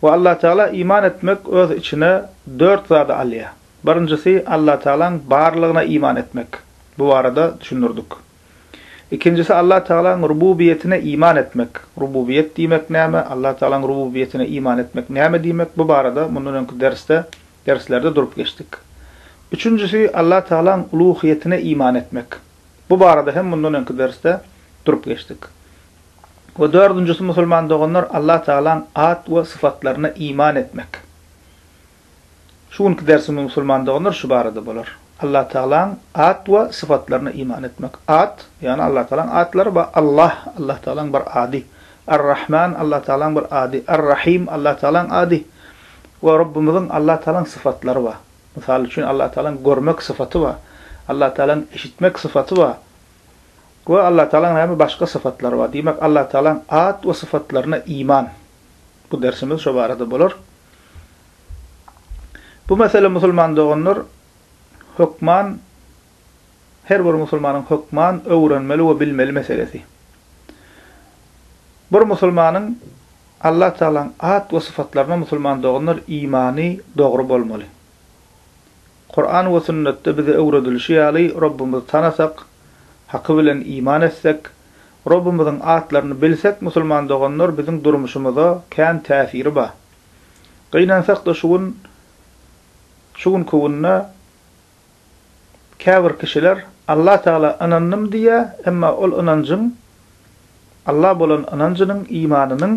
We Allatagala iman etmek öz içine dört zady alýar. Birinjisi Allatagalaň barlygyna iman etmek, bu barada düşündirdik. Ikinjisi Allatagalaň rububiýetine iman etmek, rububiýet diýmek näme, Allatagalaň rububiýetine iman etmek näme diýmek, bu barada mundan öňki dersde, derslerde durup geçdik. Üçünjisi Allatagalaň uluhyýetine iman etmek, bu barada hem mundan öňki dersde durup geçdik. We dördünjisi musulman doganlar Allah Tagalaň at we syfatlaryna iman etmek. Şu günki dersimiz musulman doganlar şu barada bolar. Allah Tagalaň at we syfatlaryna iman etmek. At, ýagny Allah Tagalaň atlary bar, Allah, Allah Tagalaň bir ady, Ar-Rahman, Allah Tagalaň bir ady, Ar-Rahim, Allah Tagalaň ady we Rabbymyzyň Allah Tagalaň syfatlary bar. Mysal üçin Allah Tagalaň görmek syfaty bar, Allah Tagalaň eşitmek syfaty bar, We Allatagalaň näme başga sypatlary bar? Diýmek Allatagalaň at we sypatlaryna iman. Bu dersimiz şo barada bolar. Bu mesele musulman doganlar hökman her bir musulmanyň hökman öwrenmeli we bilmeli meselesi. Bir musulmanyň Allatagalaň at we sypatlaryna musulman doganlar imany dogry bolmaly. Kuran we sünnetde bize öwredilişi ýaly Rabbymyzy tanasak, haky bilen iman etsek, Rabbymyzyň atlaryny bilsek musulman doganlar biziň durmuşymyza kän täsiri ba. Gynansakda şu gün şu günki günde käbir kişiler Allah Tagala ynandym diýýä emma ol ynanjyň Allah bolan ynanjynyň, imanynyň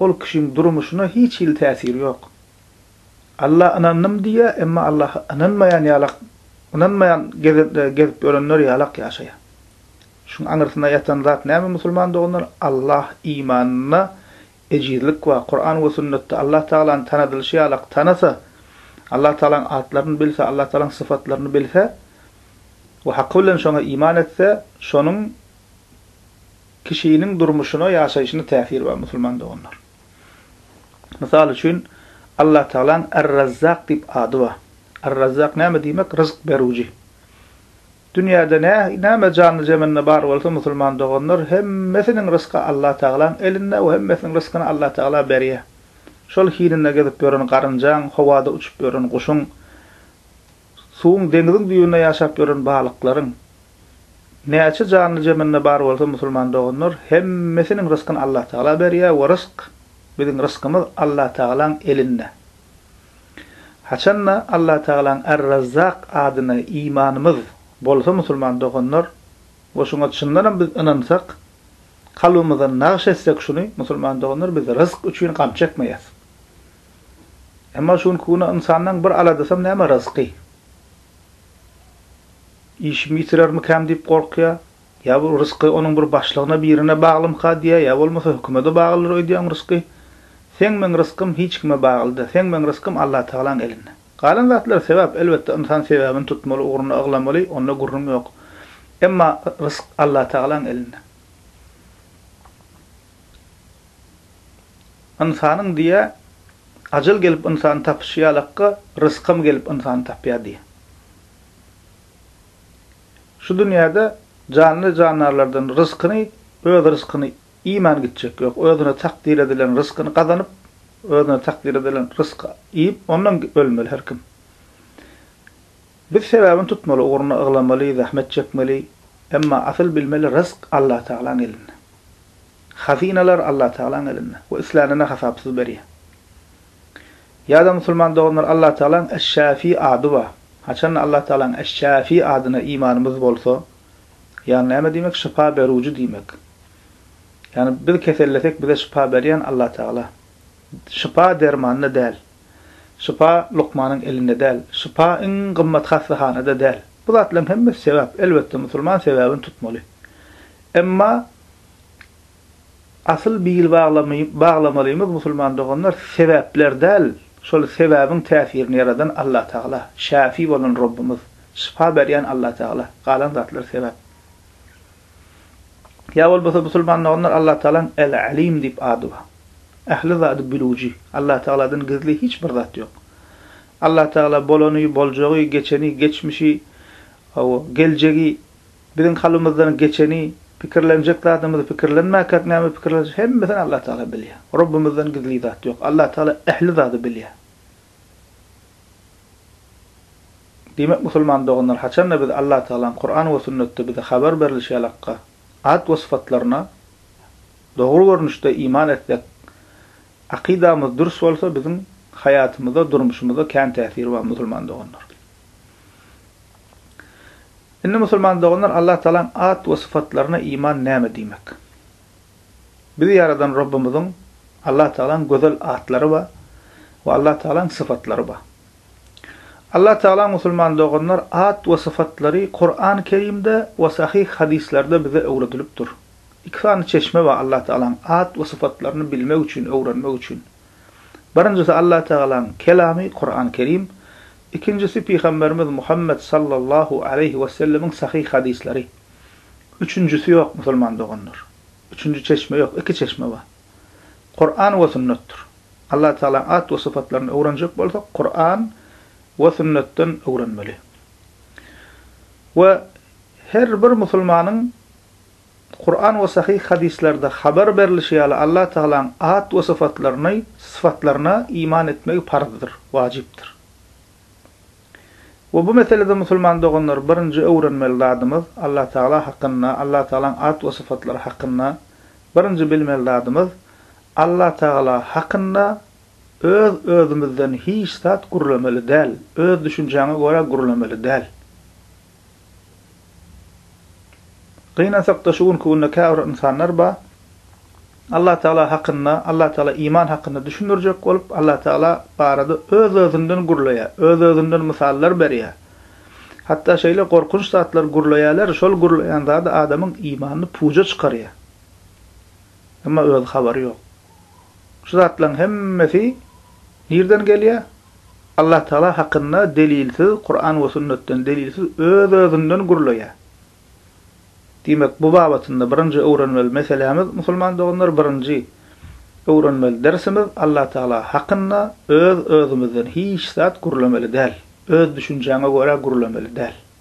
ol kişiň durmuşyna hiç hili täsiri ýok. Alla ynandym diýýär, emma Allaha ynanmaýan ýalak, ynanmaýan gezip ýörenler ýalak ýaşaýar. Şuň aňyrsyna ýatan zat näme musulman doganlar, Allah imanynda ejizlik bar, Kuran we sünnetde Allah Tagalany tanadylyşy ýalak tanasa, Allah Tagalaň atlaryny bilse, Allah Tagalaň syfatlaryny bilse we haky bilen şoňa iman etse, şonuň kişiniň durmuşyna, ýaşaýşyna täsiri bar musulman doganlar. Mysal üçin, Allatagalaň Ar-Razzak diýip ady bar. Ar-Razzak näme diýmek? Ryzyk berüji. Dünýäde näme janly-jemende bar bolsa, musulman doganlar, hemmesiniň ryzky Allatagalaň elinde we hemmesiniň ryzkyny Allatagala berýär. Şol hininde gezip ýören garynjaň, howada uçup ýören guşuň, Suwuň deňiziň düýbünde ýaşap ýören balyklaryň näçe janly zeminde bar bolsa musulman doganlar hemmesiniň ryskyny Allah tagala berýär we rysk biziň ryskymyz Allah tagalaň elinde. Haçanda Allah tagalaň Ar Razzak adyna imanymyz bolsa musulman doganlar we şuňa çyndanam biz ynansak kalbymyzdan nagyş etsek şuny musulman doganlar biz rysk üçin gam çekmeýäs. Emma şu günki güne ynsandan bir aladasam näme ryzky? Işimi ýitirermikäm diýip gorkýar. Ýa bu ryzky onuň bir başlygyna birine baglymyka diýýär, ýa bolmasa hökümede baglydyr öýdýäň ryzky. Seň meň ryzkym hiç kime baglyda, seň meň ryzkym Allatagalaň elinde. Galan zatlar sebäp, elbetde ynsan sebäbini tutmaly, ugruna yglamaly, onda gürrüň ýok. Emma ryzk Allatagalaň elinde. Ynsanyň diýýä, Ajal gelip ynsany tapyşy ýalakka, rysgam gelip ynsany tapýar diýýä. Şu dünýäde janly jandarlardan ryskyny, öz ryskyny iýmän gitjek ýok. Özüne takdyr edilen ryskyny gazanyp, özüne takdyr edilen rysky iýip, ondan ölmeli her kim. Biz sebäbini tutmaly ugruna yglamaly zähmet çekmeli emma asyl bilmeli rysk Allah Tagalaň elinde. Hazynalar Allah Tagalaň elinde we islänine hasapsyz berýär. Ýada musulman doganlar Allah Tagalaň Eş-Şäfi ady bar. Haçanda Allah Tagalaň Eş-Şäfi adyna imanymyz bolsa, ýagny näme diýmek şypa berüji diýmek. Ýagny biz kesellesek bize şypa berýän Allah Tagala. Şypa dermanda däl. Şypa lukmanyň elinde däl. Şypa iň gymmat hassahanada däl. Bu zatlaryň hemmesi sebäp. Elbetde, musulman sebäbini tutmaly. Emma asyl bil baglamalymyz musulman doganlar, sebäpler däl, şol sebäbiň täsirini ýaradan Allatagala, Şäfi bolan Rabbymyz, şypa berýän Allatagala, galan zatlar sebäp. Ýa bolmasa musulmanda onlar Allatagalaň El-Alim diýip ady bar. Ähli zady bilüwji. Allatagaladan gizli hiç bir zat ýok. Allatagala bolany, boljagy, geçeni, geçmişi, hawa, geljegi, biziň kalbymyzdan geçeni, pikirlenjek zadymyzy pikirlenmäkäk näme pikirlenjek hemmesini Allatagala bilýär. Rabbymyzdan gizli zat ýok. Allatagala ähli zady bilýär. Diýmek musulman doganlar haçanda biz Allatagalaň Kuran we Sünnetde bize habar berlişi ýaly Hakga, at we syfatlaryna, dogry görnüşde iman etsek, akydamyz dürs bolsa biziň haýatymyza, durmuşymyza kän täsiri bar musulman doganlar. Indi musulman doganlar Allatagalaň at we syfatlaryna iman näme diýmek? Bizi ýaradan Rabbymyzyň, Allah Tagalaň, gözel atlary bar we Allah Tagalaň sypatlary bar. Allah Tagala musulman doganlar at we sypatlary Kurany Kerimde we sahyh hadyslarda bize öwredilip dur. Iki sany çeşme bar Allah Tagalaň at we sypatlaryny bilmek üçin, öwrenmek üçin. Birinjisi Allah Tagalaň Kelamy Kurany Kerim, ikinjisi Pygamberimiz Muhammet sallallahu aleýhi wesellemiň sahyh hadyslary. Üçünjisi ýok musulman doganlar. Üçünji çeşme ýok, iki çeşme bar. Kuran we sünnetdir. Allah Tagalaň at we sypatlaryny öwrenjek bolsak Kuran we sünnetden öwrenmeli. We her bir musulmanyň Kuran we sahyh hadyslarda habar berlişi ýaly Allah Tagalaň at we syfatlaryny syfatlaryna iman etmegi parzdyr, wajypdyr. We bu meselede musulman doganlar birinji öwrenmeli zadymyz Allatagala hakynda, Allatagalaň at we sypatlary hakynda birinji bilmeli zadymyz Allatagala hakynda öz özümizden hiç zat gürlemeli däl, öz düşünjäňe görä gürlemeli däl. Gynansak-da şu günki günde käbir ynsanlar bar, Allatagala hakynda, Allatagala iman hakynda düşündirjek bolup, Allatagala barada öz-özünden gürleýär, öz-özünden mysallar berýär. Hatda şeýle gorkunç zatlar gürleýärler, şol gürleýän zady adamyň imanyny puja çykarýar. Emma özi habary ýok. Şu zatlaryň hemmesi nirden gelýär? Allatagala hakynda delilsiz Kuran we sünnetden delilsiz öz-özünden gürleýär. Diýmek, bu babatynda birinji öwrenmeli meselämiz, musulman doganlar, birinji öwrenmeli dersimiz, Allatagala hakynda öz-özümizden hiç zat gürlemeli däl, öz düşünjäňe görä gürlemeli däl.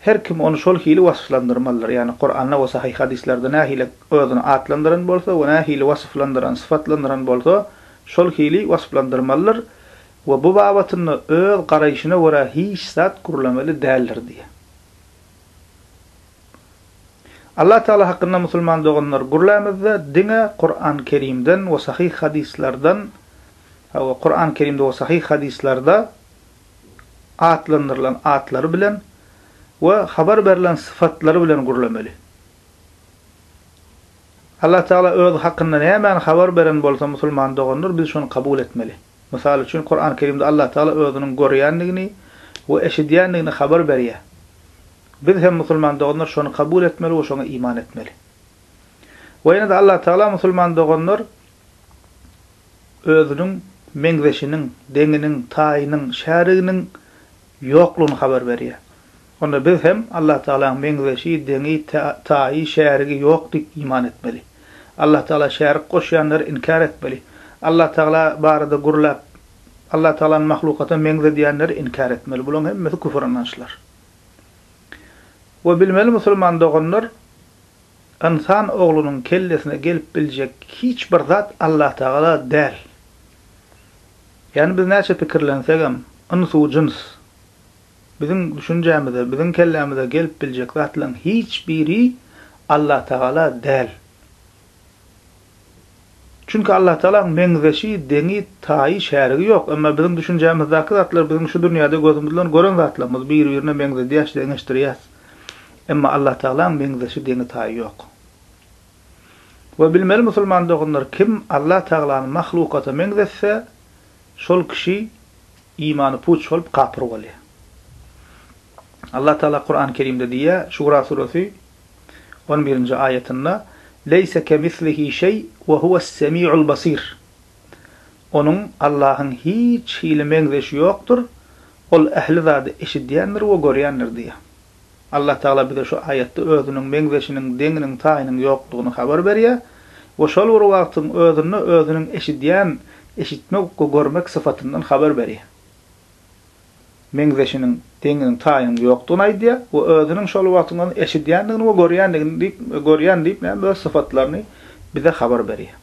Her kim ony şol hili wasplandyrmalydyr, ýagny Kuranda we sahyh hadyslarda nähili özüni atlandyran bolsa we nähili wasyflandyran, syfatlandyran bolsa, şol hili wasplandyrmalydyr we bu babatynda öz garaýşyna görä hiç zat gürlemeli däldir diýýär. Allah Tagala hakynda musulman doganlar gürlämizde diňe Kuran Kerimden we sahyh hadyslardan we Kuran Kerimde we sahyh hadyslarda atlandyrylan atlary bilen we habar berlen sypatlary bilen gürlemeli. Allah Tagala Özi hakynda nämäni habar beren bolsa musulman doganlar biz şony kabul etmeli. Mysal üçin Kurany Kerimde Allah Tagala Özüniň görýändigini we eşidýändigini habar berýär. Biz hem musulman doganlar şony kabul etmeli we şoňa iman etmeli. We ýene-de Allah Tagala musulman doganlar özüniň meňzeşiniň, deňiniň, taýynyň, şäriginiň ýoklugyny habar berýär. Onda biz hem Allatagalanyň meňzeşi, deňi, taýy, şärigi ýok diýip iman etmeli. Allatagala şärik goşýanlary inkär etmeli. Allatagala barada gürläp, Allatagalany mahlukata meňzedýänleri inkär etmeli. Bularyň hemmesi küfür ynançlar. We bilmeli musulman doganlar, Ynsan oglunyň kellesine gelip biljek hiç bir zat Allatagala däl. Ýagny biz näçe pikirlensegem, ynsu jyns, biziň düşünjämize, biziň kellämize gelip biljek zatlaryň hiç biri Allatagala däl. Çünki Allatagalaň meňzeşi, deňi, taýy, şärigi ýok. Emma biziň düşünjämizdäki zatlar biziň şu dünýäde gözümiz bilen gören zatlarymyz, bir-birine meňzedýäs, deňeşdirýäs. Emma Allatagalaň meňzeşi, deňi, taýy ýok. We bilmeli musulman doganlar, kim Allatagalany mahlukata meňzetse, şol kişi imany puç bolup, kapyr bolýar. Allatagala Kurany Kerimde diýýär, Şura suresi, On birinji aýatynda, Leýse kemislihi şeý we huwes-semiul basir. Onuň, Allahyň, hiç hili meňzeşi ýokdur, Ol ähli zady eşidýändir we görýändir diýýär. Allah Tagala bize şu aýatda Özüniň meňzeşiniň, deňiniň, taýynyň ýokdugyny habar berýär we şol bir wagtyň özünde Özüniň eşidýän, eşitmek we görmek sypatyndan habar berýär. meňzeşiniň, deňiniň, taýynyň ýokdugyny aýdýar we özüniň şol wagtyň ony eşidýändigini we görýändigini diýip, görýän diýip, näme, öz syfatlaryny bize habar berýär.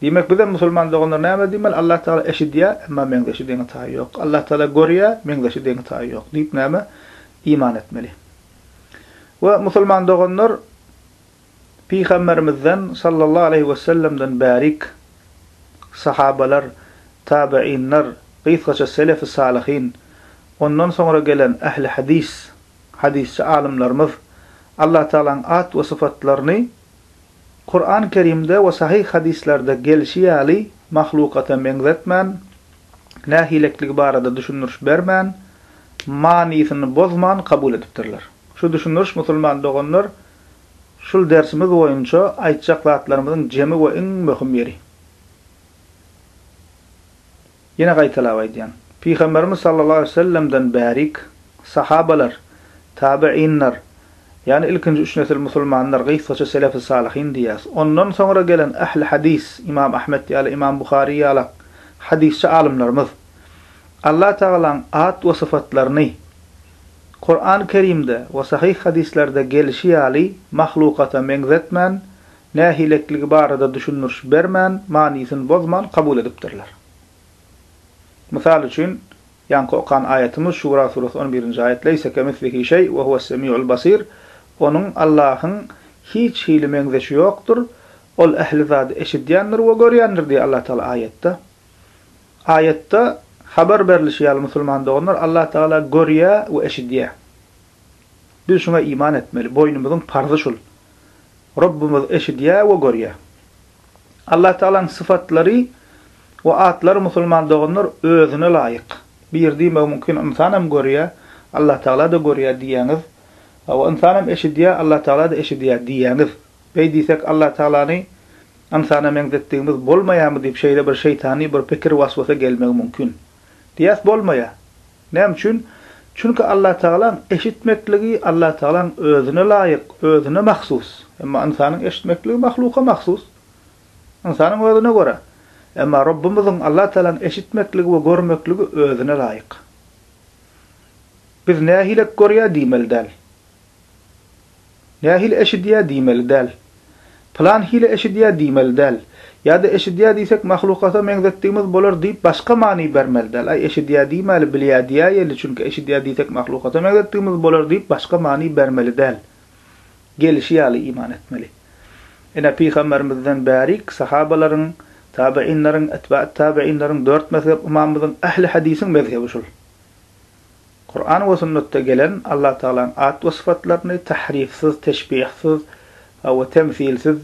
Diýmek, bizem musulman doganlar näme diýmeli? Allah Tagala eşidýär, emma meňzeşi, deňi, taýy ýok. Allah Tagala görýär, meňzeşi, deňi, taýy ýok diýip, näme, iman etmeli. We musulman doganlar Pygamberimizden sallallahu aleýhi wesellemden bärik sahabalar, tabeýinler, gysgaça selefi salyhin, ondan soňra gelen ähli hadys, hadysçy alymlarymyz Allah Tagalaň at we syfatlaryny Kuran Kerimde we sahyh hadyslerde gelşi ýaly mahlukata meňzetmän, nähilekligi barada düşündiriş bermän, manysyny bozman kabul edipdirler. Şu düşündiriş musulman doganlar Şul dersimiz boýunça aýtjak zatlarymyzyň jemi we iň möhüm ýeri. Ýene gaýtalap aýdýan. Pygamberimiz sallallahu aleýhi we sellemden bärik sahabalar, tabyinler, ýagny ilkinji üç nesil musulmanlar, gysgaça selefi salyhin diýýäs. Ondan soňra gelen ähli hadys, Imam Ahmet ýaly, Imam Buhary ýalak hadysçy alymlarymyz, Alla tagalaň at we syfatlaryny, Kuran Kerimde we sahyh hadyslerde gelişi ýaly mahlukata meňzetmän, nähilekligi barada düşündiriş bermän, manysyny bozman kabul edipdirler. Mysal üçin, ýaňky okan aýatymyz Şura suresi on birinji aýat, Leýse kemislihi şeý we huwes-semiul basir, Onuň, Allahyň, hiç hili meňzeşi ýokdur, Ol ähli zady eşidýändir we görýändir diýýär Allatagala aýatda. Aýatda habar berlişi ýaly musulman doganlar Allah Tagala görýä we eşidýä. Biz şuňa iman etmeli, boýnumyzyň parzy şul. Rabbymyz eşidýä we görýä. Allah Tagalaň syfatlary we atlary musulman doganlar özüne laýyk. Bir diýmegi mümkin ynsanam görýä, Allah Tagala-da görýä diýýäňiz we ynsanam eşidýä, Allah Tagala-da eşidýä diýýäňiz. Beý diýsek Allah Tagalany Ynsana meňzetdigimiz bolmaýarmy diýip şeýle bir şeýtany bir pikir was-wasa gelmegi mümkin. Diýýäs bolmaýar. Näme üçin? Çünki Allatagalaň eşitmekligi Allatagalaň özüne laýyk, özüne mahsus. Emma ynsanyň eşitmekligi mahluka mahsus. Ynsanyň özüne görä. Emma Rabbymyzyň Allatagalaň eşitmekligi we görmekligi özüne laýyk. Biz nähilek görýär diýmeli däl. Nähili eşidýär diýmeli däl. Pylan hili eşidýär diýmeli däl. Ýa-da eşidýär diýsek mahlukata meňzetdigimiz bolar diýip başga many bermeli däl. Aý eşidýär diýmäli bilýär diýäýeli çünki eşidýär diýsek mahlukata meňzetdigimiz bolar diýip başga many bermeli däl. Gelişi ýaly iman etmeli. Ine pygamberimizden bärik sahabalaryň, tabyinleriň, etbaet tabyinleriň dört mezhep ymamymyzyň ähli hadisiň mezhebi şul. Kuran we sünnetde gelen Allatagalaň at we sypatlaryny tahrifsiz, teşbihsiz, we temsilsiz,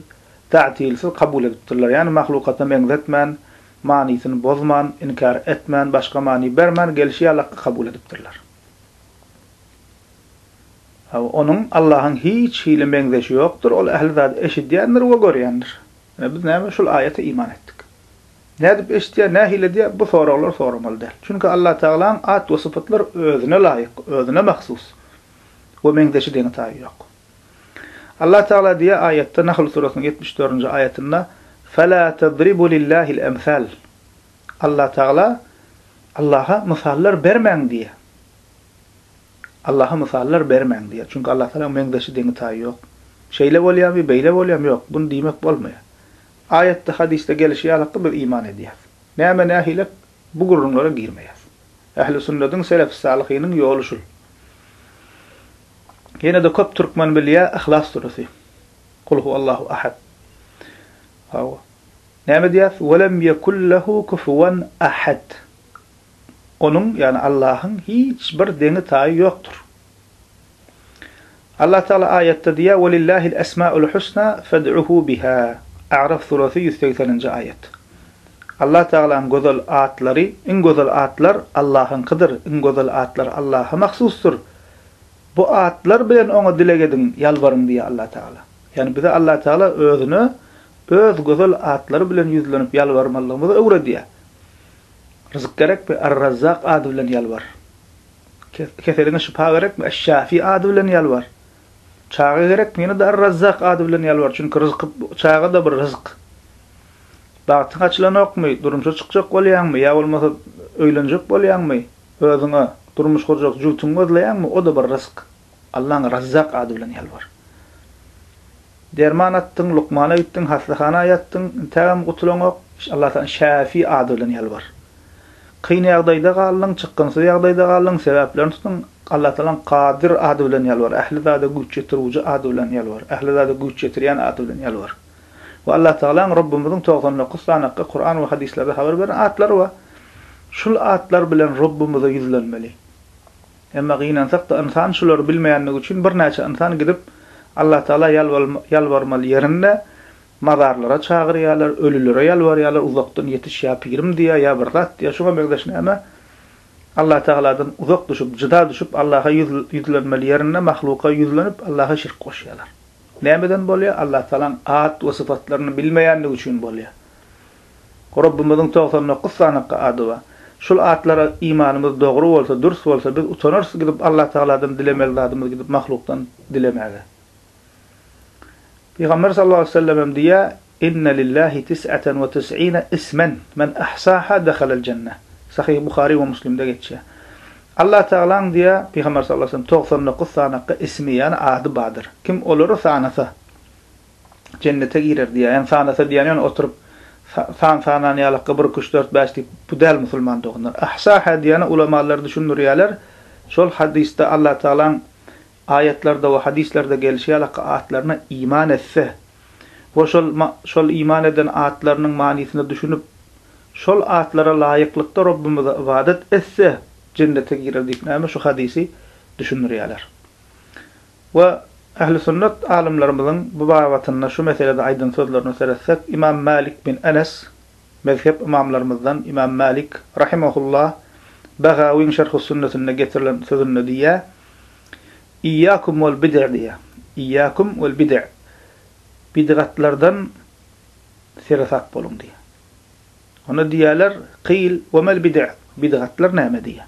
ta'tilsiz, kabul edipdirler, ýagny mahlukatyna meňzetmän, manysyny bozman, inkär etmän, başga many bermän, gelşi ýaly hakda kabul edipdirler. Onuň, Allahyň, hiç hili meňzeşi ýokdur, Ol ähli zady eşidýändir we görýändir. Ine biz näme şul aýata iman etdik. Nädip eşitýär, nähili edýär bu soraglary soramaly däl. Çünki Allatagalaň at we sypatlar özüne laýyk, özüne mahsus we meňzeşi deňi-taýy ýok. Allatagala diýýär aýatda Nahl surasynyň ýetmiş dördünji aýatynda, Fela tadribu lillahil emsal. Allatagala Allaha mysallar bermäň diýýär. Allaha mysallar bermäň diýýär. Çünki Allah Tagalaň meňzeşi, deňi-taýy ýok. Şeýle bolýamy, beýle bolýamy, ýok, muny diýmek bolmaýar. Aýatda, hadysda gelişi ýalykda biz iman edýäris. Näme nähilek, bu gürrüňlere girmeýäris. Ähli sünnediň, selefis-salyhynyň ýoly şul. Ýene-de köp türkmen bilýär Yhlas süresy. Kul huwallahu ahad. Hawa. Näme diýýäris? Welem ýekul lehu kufuwan ahad. Onuň, ýagny Allahyň, hiç bir deňi-taýy ýokdur. Allah Tagala aýatda diýýär, Welillahil esmaul husna fed'uhu biha, A'raf surasy ýüz segseninji aýat. Allah Tagalaň gözel atlary, iň gözel atlar Allahyňkydyr, iň gözel atlar Allaha mahsusdyr. Bu atlar bilen Oňa dileg ediň, ýalbaryň diýýär Allah Tagala. Ýagny bize Allah Tagala Özüne Öz gözel atlary bilen ýüzlenip ýalbarmalygymyzy öwredýär. Ryzyk gerekmi? Ar-Razzak ady bilen ýalbar. Keseliňe şypa gerekmi? Eş-Şafi ady bilen ýalbar. Çaga gerekmi? Ýene-de Ar-Razzak ady bilen ýalbar. Çünki ryzky, çaga-da bir ryzyk. Bagtyň açylanokmy? Durmuşa çykjak bolýaňmy? Ýa bolmasa öýlenjek bolýaňmy? Özüňe durmuş gurjak jübtüňi gözleýäňmi? O-da bir ryzyk. Allaň Razzak ady bilen ýalbar. Derman atdyň, lukmana gitdiň, hassahana ýatdyň, intägem gutulaňok, Alla taýdan Şäfi ady bilen ýalbar. Kyn ýagdaýda galdyň, çykgynsyz ýagdaýda galdyň, sebäplerini tutduň, Alla taýdan Kadyr ady bilen ýalbar, ähli zada güýç ýetirgüji ady bilen ýalbar, ähli zada güýç ýetirýän ady bilen ýalbar. Bu Alla taýlaň, Rabbymyzyň togsan dokuz sanakga Kuran we hadyslarda habar beren atlary we şul atlar bilen Rabbymyza ýüzlenmeli. Emma gynansak-da ynsan şulary bilmeýändigi üçin birnäçe ynsan gidip Allatagala ýalbarmaly ýerinde mazarlara çagyrýarlar, ölülere ýalbarýarlar, uzakdan ýetiş ýa pirim diýýär, ýa bir zat diýýär, şuňa meňzeş näme? Allatagaladan uzak düşüp, jyda düşüp Allaha ýüzlenmeli ýerinde mahluka ýüzlenip Allaha şirk goşýarlar. Nämeden bolýar? Allatagalaň at we sypatlaryny bilmeýändigi üçin bolýar. Rabbymyzyň togsan dokuz sanakga ady bar. Şul atlara imanymyz dogry bolsa, dürs bolsa biz utanarys gidip Allatagaladan dilemeli zadymyz gidip mahlukdan dilemäge. Pygamber sallallahu aleýhi we sellem hem diýýär, Inne lillahi tis'aten we tis'ine ismen, men ahsaha dehalel jenne. Sahyh Buhary we Muslimde geçýär. Allatagalaň diýýär, Pygamber sallallahu aleýhi we sellem, togsan dokuz sanakga ismi, ýagny ady bardyr. Kim olary sanasa, Jennete girer diýýär. Ýani sanasa diýýän ýöne oturyp san sanan ýalakka bir iki üç dört bäş diýip bu däl musulman doganlar. Ahsaha diýýäne ulamalar düşündirýäler şol hadysda Allah Tagalaň aýatlarda we hadyslarda gelişi ýalakka atlaryna iman etse we şol şol iman eden atlarynyň manysyna düşünip şol atlara laýyklykda Rabbymyza ybadat etse jennete girer diýip näme şu hadysy düşündirýäler. We ähli sünnet alymlarymyzyň bu babatynda şu meselede aýdan sözlerine seretsek, Ymam Mälik bin Enes, mezhep ymamlarymyzdan Ymam Mälik rahimehullah Bagawyň Şerhus-Sünnetinde getirilen sözünde diýýär, Iyyakum wal bid'e diýýär. Iyyakum wal bid'e. Bidgatlardan seresap boluň diýýär. Onda diýýärler, Kyl, we mal bid'e? Bidgatlar näme? diýýär.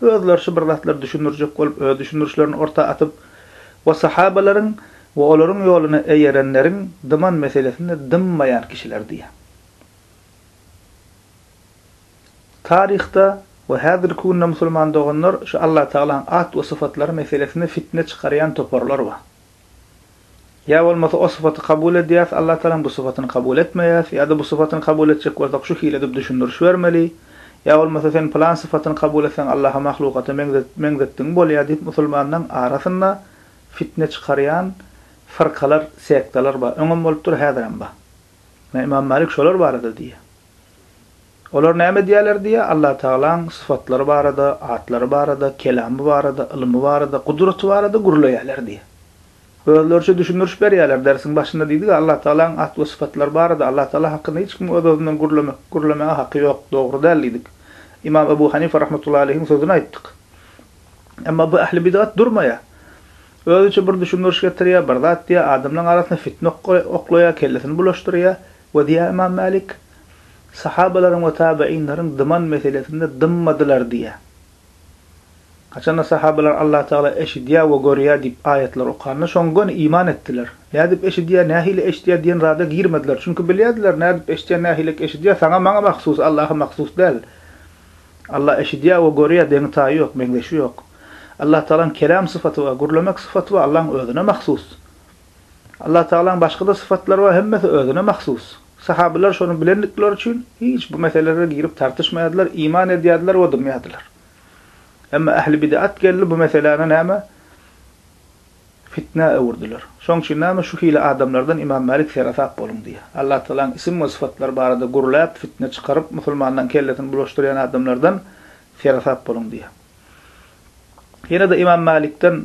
Özleri şu bir zatlary düşündirjek bolup öz düşündirişlerini orta atyp we sahabalaryň we olaryň ýoluna eýerenleriň dyman meselesinde dymmaýan kişiler diýýär. Taryhda we häzirki günde musulman doganlar şu Allatagalaň at we sypatlary meselesinde fitne çykarýan toparlar bar. Ýa bolmasa o syfaty kabul edýäs, Allatagalaň bu syfatyny kabul etmeýäs, ýa-da bu syfatyny kabul etjek bolsak şu hili edip düşündiriş bermeli, ýa bolmasa sen pylan syfatyny kabul etseň Allaha mahlukata meňzetdigiň bolýar diýip musulmanlaň arasynda fitne çykarýan fyrkalar, sektalar bar. Öňem bolupdyr, häzirem bar. Ynha Imam Malik şolar barada diýýär. Olar näme edýärler diýýär, Allatagalaň sypatlary barada, atlary barada, kelamy barada, ylmy barada, gudraty barada gürleýärler diýýär. Özleriçe düşündiriş berýärler, dersiň başynda diýdik-ä, Allatagalaň at we sypatlary barada, Allatagala hakynda hiç kimiň öz-özünden gürlemek, gürlemäge haky ýok, dogry däl diýdik. Ymam Ebu Hanifa rahmetullahi aleýhiň sözüni aýtdyk. Emma bu ähli bidgat durmaýar. Özüçe bir düşündiriş getirýär, bir zat diýýär, adamlaryň arasyna fitne oklaýar, kellesini bulaşdyrýar, We diýýär Ymam Mälik, Sahabalaryň we tabygynlaryň dyman meselesinde dymmadylar diýýär. Haçanda sahabalar Allah Tagala eşidýär we görýär diýip aýatlar okanda şoň göni iman etdiler. Nädip eşidýär, nähili eşidýär diýen zada girmediler. Çünki bilýärdiler nädip eşidýär, nähilek eşidýär saňa maňa mahsus, Allaha mahsus däl. Allah eşidýär we görýär deňi taýy ýok, meňzeşi ýok. Allah Tagalaň kelam syfaty bar, gürlemek syfaty bar, Allaň özüne mahsus. Allatagalaň başga-da sypatlary bar, hemmesi özüne mahsus. Sahabylar şony bilendikleri üçin, hiç bu meselelere girip tartyşmaýardylar, iman edýärdiler we dymýardylar. Emma ähli bid'at geldi, bu meseläni näme? Fitnä öwürdiler. Şoň üçin näme şu hili adamlardan Ymam Mälik seresap boluň diýýär. Allatagalaň isim we sypatlary barada gürläp, fitne çykaryp, musulmanlaň kellesini bulaşdyrýan adamlardan seresap boluň diýýär. Ýene-de Ymam Mälikden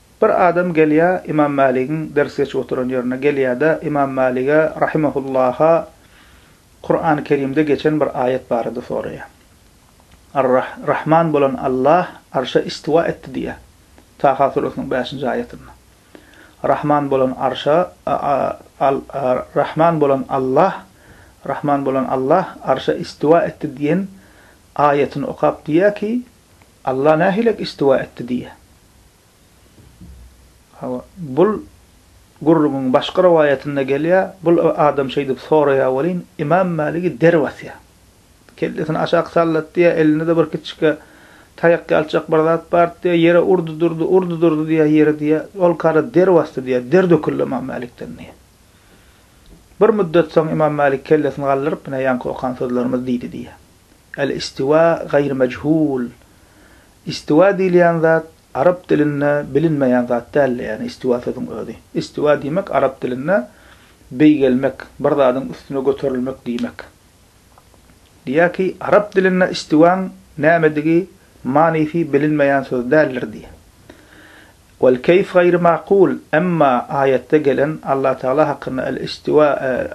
Bir adam gelýär Ymam Mäligiň ders geçip oturan ýerine gelýär-de Ymam Mälige rahimahullaha Kurany Kerimde geçen bir aýat barada soraýar. Ar Rahman bolan Allah arşa istiwa etdi diýýär. Taha surasynyň bäşinji aýatynda. Rahman bolan arşa Al Rahman bolan Allah Rahman bolan Allah arşa istiwa etdi diýen aýatyny okap diýýär ki, Alla nähilek istiwa etdi diýýär. Hawa, bul gürrüňiň başga rowaýatynda gelýär, bul adam şeýdip soraýar welin, Ymam Maligi der basýar. Kellesini aşak sallat diýýär, elinde-de bir kiçikge taýak ýalçak bir zat bardy diýýär, ýere urdy durdy, urdy durdy diýýär ýeri diýýär, ol kary der basdy diýýär, der döküldi Ymam Malikden diýýär. Bir müddet soň Ymam Malik kellesini galdyryp, Ine, ýaňky okan sözlerimiz diýdi diýýär. Al-istiwa gaýr mejhul, Istiwa diýilýän zat arap dilinde bilinmeýän zat däldi, ýagny istiwa sözüň özi. Istiwa diýmek arap dilinde beýgelmek, bir zadyň üstüne göterilmek diýmek. Diýýär ki, arap dilinde istiwaň nämedigi, manysy bilinmeýän söz däldir diýýär. Wel keýf gaýry makul, emma aýatda gelen Allah Tagala hakynda el istiwa,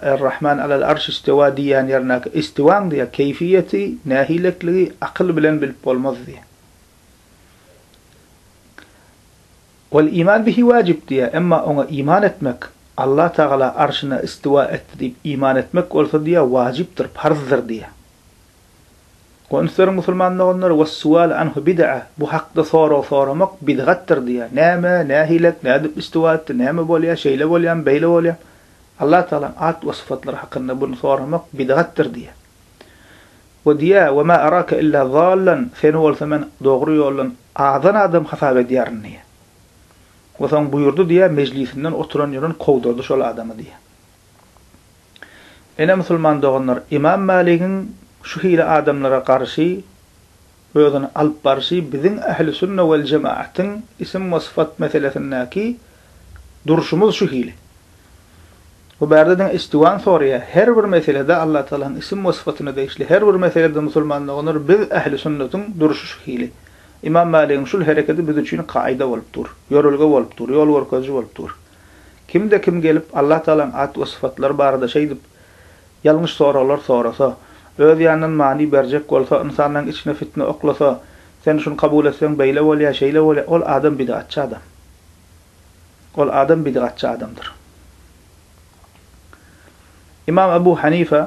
Er Rahman alel arş istewa diýýän ýerindäki istiwaň diýýär keýfiýeti, nähilekligi akyl bilen bilip bolmaz diýýär. Wel iman bihi wajib diýýär, emma oňa iman etmek, Allah Tagala arşyna istiwa etdi diýip iman etmek bolsa diýýär wajypdyr, parzdyr diýýär. Gonslary musulman doganlar, Wes-sual anhu bid'a, bu hakda sorag soramak bidgatdyr diýýär. Näme, nähilek, nädip üstüwa etdi, näme bolýar, şeýle bolýamy, beýle bolýamy? Allah Tagalaň at we sypatlary hakynda buny soramak bidgatdyr diýýär. We diýýär, Ve ma arake illa zallan, seni bolsa men dogry ýoldan azan adam hasap edýärin diýýär. We soň buýurdy diýýär, mejlisinden oturan ýören kowdurdy şol adamy diýýär. Ine musulman doganlar, Ymam Maligiň şu hili adamlara garşy özüni alyp barşy biziň Ähli Sünne Wel Jemaatiň isim we syfat meselesindäki durşumyz şu hili. Bu bärde diňe istiwan soraýar, her bir meselede Allatagalaň isim we syfatyna degişli her bir meselede musulman doganlar biz Ähli Sünnetiň durşy şu hili. Ymam Maligiň şul herekedi biz üçin kaýda bolup dur, ýörelge bolup dur, ýol görkeziji bolup dur. Kimde kim gelip Allah Tagalaň at we sypatlary barada şeýdip ýalňyş soraglar sorasa, öz ýanyndan many berjek bolsa, ynsanlaň içine fitne oklasa, sen şuny kabul etseň beýle bolýar, şeýle bolýar, ol adam bidgatçy adam. Ol adam bidgatçy adamdyr. Imam Abu Hanife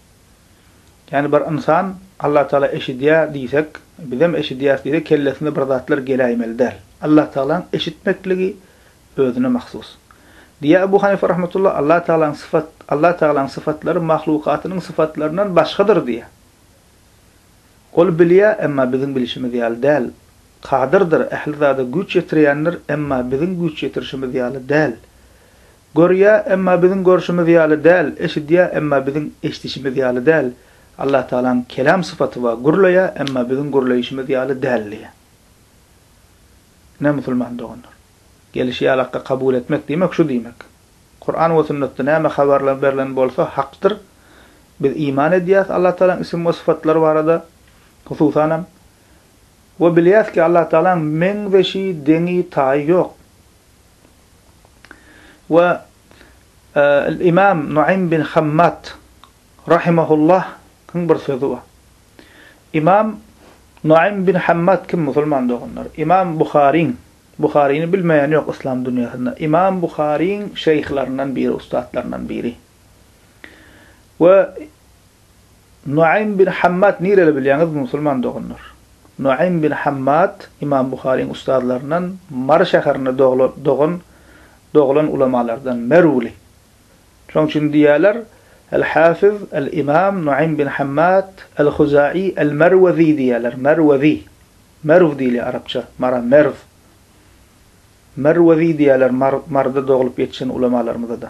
Ýani bir ynsan Allatagala eşidýär diýsek, bizem eşidýäris diýsek kellesine bir zatlar geläýmeli däl. Allatagalaň eşitmekligi özüne mahsus. Diýýär Ebu Hanyfa rahmetullah, Allatagalaň syfat, Allatagalaň syfatlary mahlukatynyň syfatlaryndan başgadyr diýýär. Ol bilýär, emma biziň bilişimiz ýaly däl. Kadyrdyr, ähli zada güýç ýetirýändir, emma biziň güýç ýetirişimiz ýaly däl. Görýä, emma biziň görşümiz ýaly däl, eşidýä, emma biziň eşdişimiz ýaly däl. Allah Tagalaň kelam sypaty bar, gürleýä, emma biziň gürleýişimiz ýaly däl diýýär. Ine, musulman doganlar! Gelişi ýaly hakka kabul etmek diýmek şu diýmek. Kuran we sünnetde näme habar berlen bolsa hakdyr. Biz iman edýäs Allah Tagalaň ism we sypatlary barada, hususanam, we bilýäs ki Allah Tagalaň meňzeşi, deňi, taýy ýok. we Imam Nuaym bin Hammad rahimehullah-yň bir sözi bar. Imam Nuaym bin Hammad kim musulman doganlar? Imam Buharyň, Buharyny bilmeýän ýok yslam dünýäsinde, Imam Buharyň şeýhlaryndan biri, ussatlaryndan biri. We Nuaym bin Hammad nireli bilýäňiz musulman doganlar? Nuaym bin Hammad Imam Buharyň ustazlaryndan Mary şäherinde doglan dogan doglan ulamalardan merwli. Şoň üçin diýýärler Al-Hafiz Al-Imam Nuaym bin Hammad Al-Huzaý Al-Marwazi diýýärler Marwazi. Merw diýilýär arapça Mara Merw. Marwazi diýýärler Mar Maryda doglup ýetişen ulamalarymyza-da.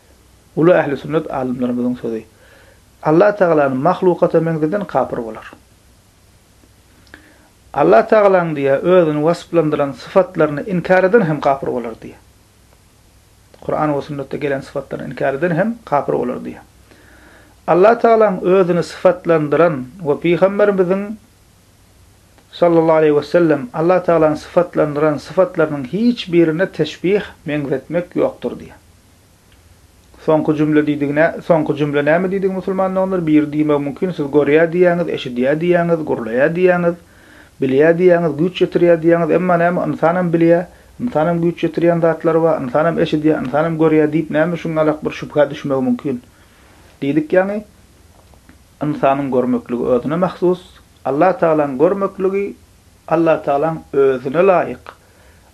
Uly ähli sünnet alymlarymyzyň sözi, Allah Tagalany mahlukata meňzeden kapyr bolar. Allah Tagalanyň diýýä özüni wasflandyran syfatlaryny inkär eden hem kapyr bolar diýýä. Kuran we sünnetde gelen syfatlaryny inkär eden hem kapyr bolar diýýä. Allah Tagalanyň özüni syfatlandyran we pygamberimiziň Sallallahu aleýhi we sellem Allah Tagalany syfatlandyran syfatlarynyň hiç birine teşbih, meňzetmek, ýokdur diýýä. Soňky jümle diýdigi nä? Soňky jümle näme diýdigi musulman doganlar? Biri diýmegi mümkin, siz görýä diýýäňiz, eşidýä diýýäňiz, gurlaýa diýýäňiz, bilýä diýýäňiz, güýç ýetirýä diýýäňiz, emma näme ynsanam bilýä, ynsanam güýç ýetirýän zatlary bar, ynsanam eşidýä, ynsanam görýä diýip näme şuň alak bir şübhä düşmegi mümkin? Diýdik ýaňy ynsanyň görmekligi özüne mahsus, Allatagalaň görmekligi Allatagalaň özüne laýyk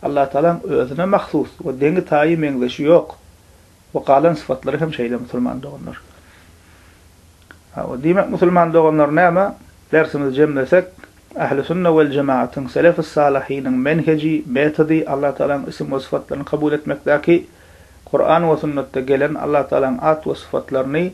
Allatagalaň özüne mahsus we deňi-taýy meňzeşi ýok we galan sypatlary hem şeýle musulman doganlar. Hawa, diýmek musulman doganlar näme? Dersimizi jemlesek, Ähli sünne wel jematyň, selefis salyhynyň menheji, metody Allatagalaň ism we sypatlaryny kabul etmekdäki Kuran we sünnetde gelen Allatagalaň at we sypatlaryny